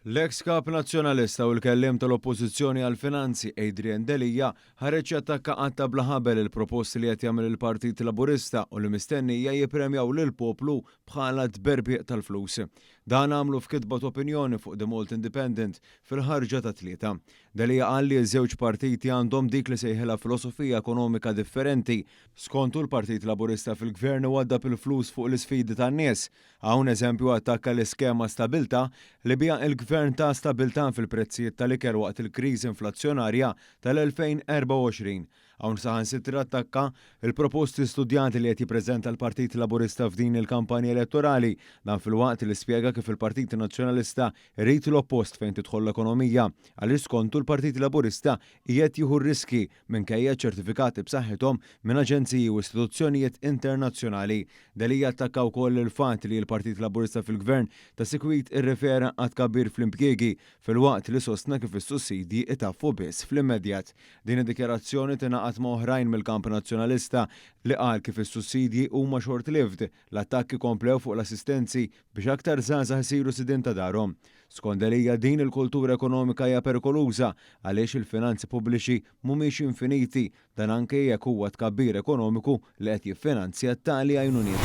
L-eks Kap Nazzjonalista u l-Kelliem tal-Oppożizzjoni għall-Finanzi, Adrian Delia, ħareġ jattakka għadd ta' bla ħabel il-proposti li qed jagħmel il-Partit Laburista u li mistennija jippremjaw lill-poplu bħala tberbieq tal-flus. Dan għamlu f'kitba t'opinjoni fuq The Malta Independent fil-ħarġa tat-Tlieta. Delia qal li ż-żewġ partiti għandhom dik li sejħilha filosofija ekonomika differenti. Skontu l-Partit Laburista fil-Gvern iwaddab il-flus fuq l-isfidi tan-nies. Hawn eżempju attakka l-iskema Stabilità li biha l-Gvern ta stabilità fil-prezzijiet tal-ikel waqt il-kriżi inflazzjonarja tal-2024. Hawn saħansitra attakka l-proposti studjati li qed jippreżenta l-Partit Laburista f'din il-kampanja elettorali. Dan filwaqt li spjega kif il-Partit Nazzjonalista jrid l-oppost fejn tidħol l-ekonomija għaliex skontu l-Partit Laburista qiegħed jieħu r-riskji Minkejja ċ-ċertifikati b'saħħithom minn aġenziji u istituzzjonijiet internazzjonali, Delia attakka wkoll il-fatt li l-Partit Laburista fil-Gvern ta' sikwit irrefera għat-tkabbir fl-impjiegi filwaqt li sostna kif is-sussidji itaffu biss fl-immedjat. Din id-dikjarazzjoni tingħaqad ma' oħrajn mill-kamp Nazzjonalista li qal kif is-sussidji huma short-lived. L-attakki komplew fuq l-assistenzi biex aktar żgħażagħ isiru sidien ta' darhom. Skont Delia din il-kultura ekonomika hija perikoluża għaliex il-finanzi pubbliċi mhumiex infiniti, dan anke jekk huwa t-tkabbir ekonomiku li qed jiffinanzja t-tali għajnuniet.